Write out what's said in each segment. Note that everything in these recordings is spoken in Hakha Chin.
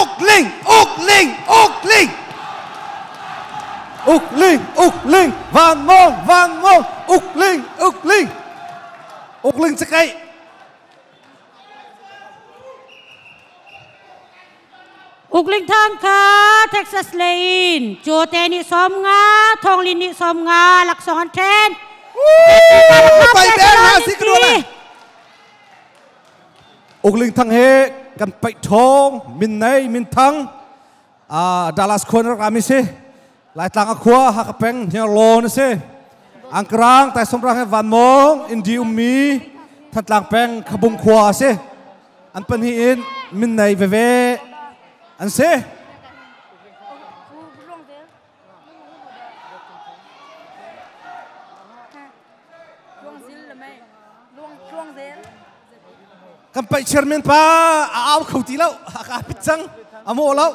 Uk Ling, Uk Ling, Uk Ling. Uk Ling, Uk Ling, Van Mon, Van Mon, Uk Ling, Uk Ling. Uk Ling cakei. Ukling thangka Texas Lane chu te ni som nga thong lin ni som nga laksong an then pai ben ha si kdo la Ukling thang he kan paih thong min nei min thang a Dallas khua na kami si Laitlang a khua Haka peng hniar law na si Angkarang tai somrang he van mong indi ummi Thantlang peng Khabung khua si an pahnih in min nei veve an si kan paih chairman pa a au kho ti lo a ka pit cang a mawh lo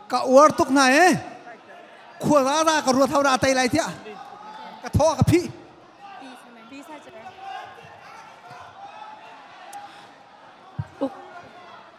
ka uar tuk na e khua ra ra ka ruat hau ra tai lai tia ka tho ka phi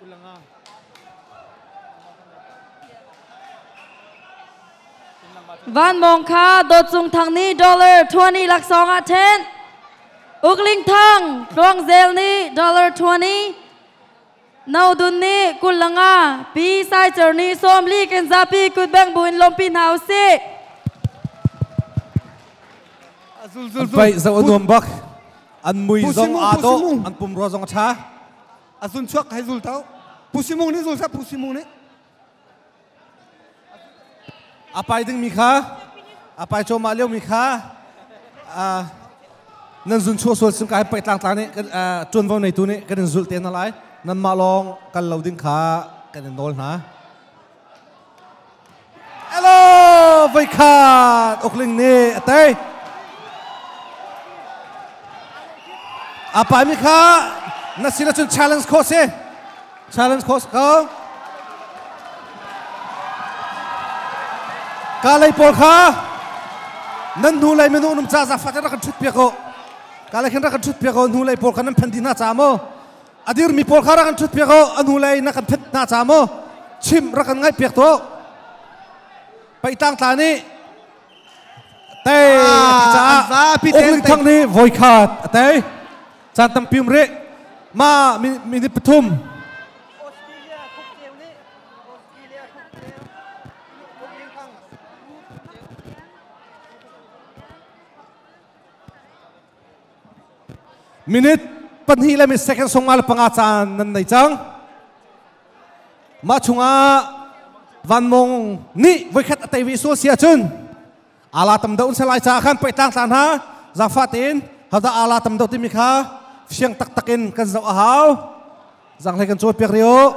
Kulanga Vanmawng kha Dawt Cung Thang nih dollar 20 laksawng ah ṭhen. Uk Ling Thang, Tluang Zel nih dollar 20. No Dun nih Kulanga, Pi Sai Cer nih Sawmli kan zapi kutbeng bu in lawmpi hna usih. An paih zo nuam bak. An mui zong a to, an pum ruwa zong a ṭha. a zun chuak hei zul tau pusimung nih zul seh pusimung nih a pai ding mi kha a pai chawm ah leo mi kha uh, nan zun chuah sual sim kai pai tlang tlang nih kan uh, tuan vo neitu nih kan in zulh te na lai nan mah lawng kal lo ding kha kan in nawl hna Elo voikhat Ukling nih a tei. A paimi kha na sinah cun challenge course si. Challenge course ko. Ka lei pawl kha nan hnu lei minung num ca zafa te rak kan thut piak ko. Ka lei khin rak kan thut piak ko hnu lei pawl kha nan phen di hna ca maw? a dirmi pawl kha rak an ṭhutpiak u a nu lei na kan ṭhut hna ca maw chim rak kan ngaihpiak tuah peitangtla nih tei a ti caah Ukling Thang nih voi khat a tei caan tampim rih ma minute pathum Minute pahnih le minute second sawmnga le panga caan nan nei cang. Mah chungah Van Mong nih voikhat a tei ve sual si ahcun ala tam deuh se lai caah khan pei tlang tla hna zangfah tein hada ala tam deuh timi kha fiang taktak in kan zoh a hau zanglei kan cawl piak rio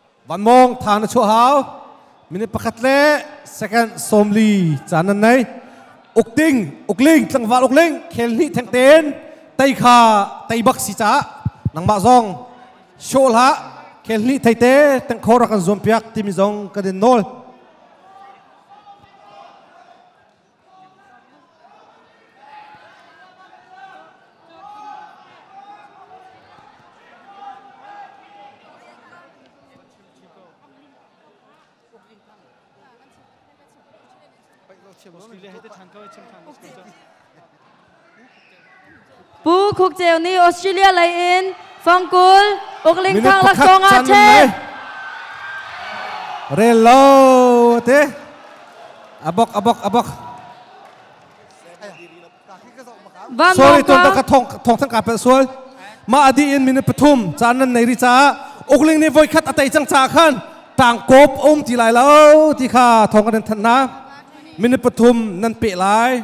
Van Mawng tha na chuah hau. Minute pakhat le second sawmli caan nan nei. Uk ding, uk ling, tlangval uk ling, khel hni theng ten, tei kha tei bak si caah, nangmah zong show la, khel hni thei te, teng khor kan zuam piak, timi zong kan in nawl. Australia he te than ka chim than. Pu Khuk Ceu nih Australia lei in fangkul ukling thang laksawng ah ṭhe rel lo te abok abok abok sual ton ka thong thong thang ka pe sual ma adi in minute pathum caan nan nei ri caah ukling ni voi khat atei cang caah khan tang kop um ti lai lo ti kha thong kan than na minute pathum nan pe lai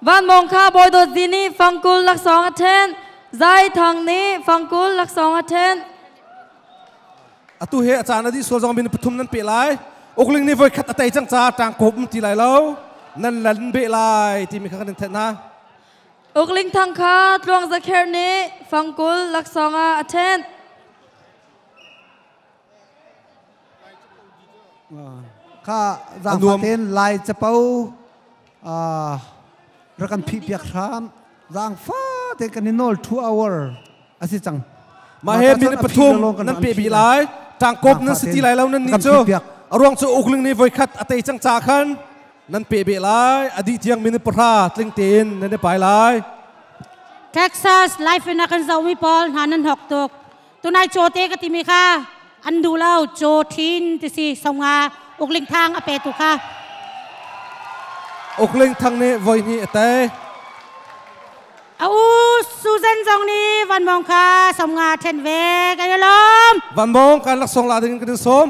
Vanmawng kha bawi dawt zi nih fangkul laksawng a ṭhen. Zai thang nih fangkul laksawng a ṭhen. Atu he a caan a dih sual zong min pathum nan pe lai. Ukling nih voi khat a tei cang ca ṭang kawp um ti lai lo. Nan lan be lai timi kha kan in thenh hna. Ukling thang kha tluang zakher nih fangkul laksawng ah a ṭhen. Kha zaangfah tein lai capo rak kan phih piak hram. Zaangfah tein kan i nawl two hour a si cang. Mah he minute pathum nan pe bi lai. Tangkop nan si ti lai lo nan ni cu. Ruang cu ukling ni voi khat a tei cang ca khan nan pe be lai. Adi tiang minute pahra tling tein nan i pai lai. Texas life in a kan zomi pawl hna nan hok tuk. tunai caw te ka timi kha an duh lo caw thin ti si songa ukling thang a pe tu kha ukling thang nih voi hnih a tei a u Susan zong nih Van Mong kha somnga ṭhen ve kan i lawm Van Mong kan laksawng la ding kan in sawm